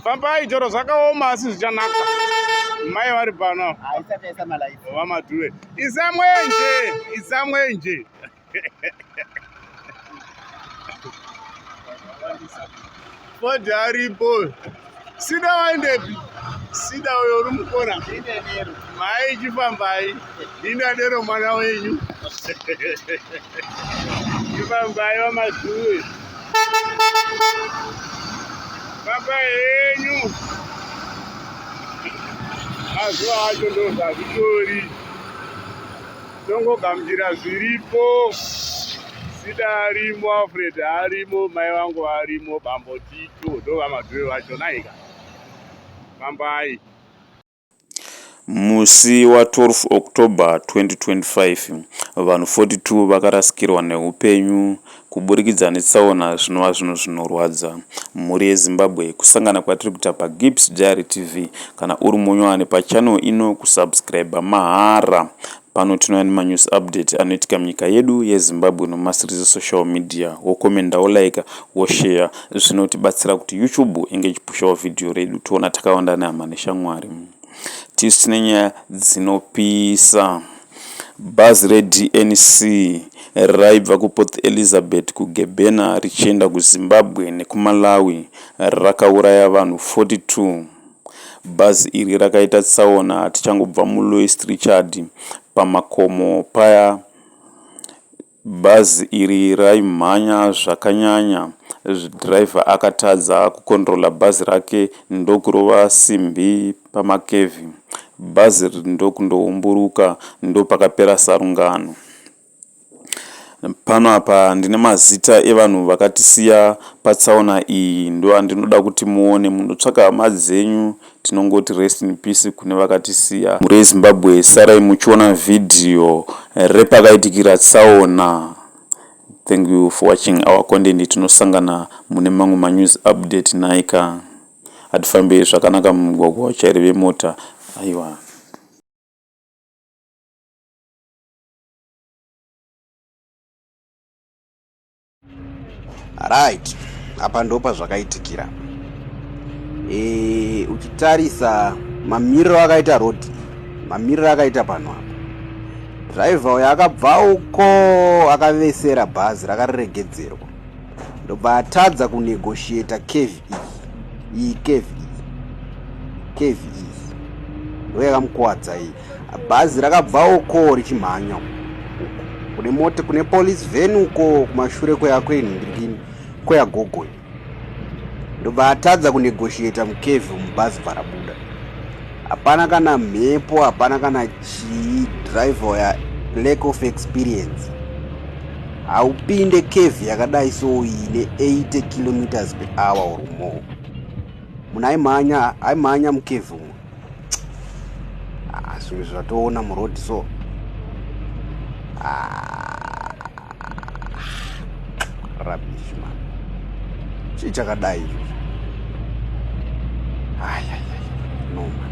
fambai chero zvakaoma asi zvichanaka mai vari pano vamadhuve isamwenje isamwenje fodhi aripo sida waendepi sida uyo uri mukona mai chifambai Ndinadero mwana wenyu. Ndibambai vamazuwe. Baba henyu. Mazuva acho ndozvazvitori. Tongogamuchira zviripo. Sida arimo, Alfred arimo, mai vangu varimo, bambo Tito ndovamazuwe vacho naika. Bambai. Musi wa 12 October 2025, vanhu 42 vakarasikirwa nehupenyu kuburikidza netsaona zvinova zvinhu zvinorwadza mhuri yeZimbabwe kusangana kwatiri kuita pa Gibbs Diary TV kana uri munyowani pa channel ino kusubscriber mahara Pano tinouya nemanews update anoitika munyika yedu yeZimbabwe nomasirizi social media wokomenda wolaika wosheya zvinotibatsira kuti YouTube inge ichipushawo vhidhiyo redu toona takawanda nehama neshamwari. Tisu tine nyaya dzinopisa. Bhazi reDNC raibva kuPort Elizabeth kuGebena richienda kuZimbabwe nekuMalawi rakauraya vanhu 42. Bhazi iri rakaita tsaona tichangobva muLouis Trichardt pamakomo paya. Bhazi iri raimhanya zvakanyanya driver akatadza kucontrola bhazi rake ndokurova simbi pamakevhi. Bhazi iri ndokundoumburuka ndopakapera sarungano. Pano apa ndine mazita evanhu vakatisiya patsaona iyi ndoandinoda kuti muone munotsvaka hama dzenyu tinongoti rest in peace kune vakatisiya. Mhuri yeZimbabwe sarai muchiona vhidhiyo repakaitikira tsaona. Thank you for watching our content tinosangana mune mamwe manews update nhaika. Hatifambe zvakanaka mumugwagwa vatyairi vemota aiwa. right apa ndopa zvakaitikira e, uchitarisa mamiriro akaita road mamiriro akaita pano apa driver uyo akabva uko akavesera bhazi rakariregedzerwa ndobva atadza kunegotiata kevi iyi iyi kevi iyi kevi iyi ndo yakamukwadza iyi bhazi rakabva uko richimhanya kune mota kune police ven uko kumashure kweyakuenhindikini kweyagogoyo ndobva atadza kunegotiata mukevi mubhazi bvarabuda hapana kana mhepo hapana kana Chii driver uya lack of experience haupinde cave yakadai so ine 80 kilometers per hour or more munhu aimhanya aimhanya mucave umo ah, zvimwe zvatoona muroad so ah. Rubbish man. Chii chakadai izvo? Ayayaya, no man.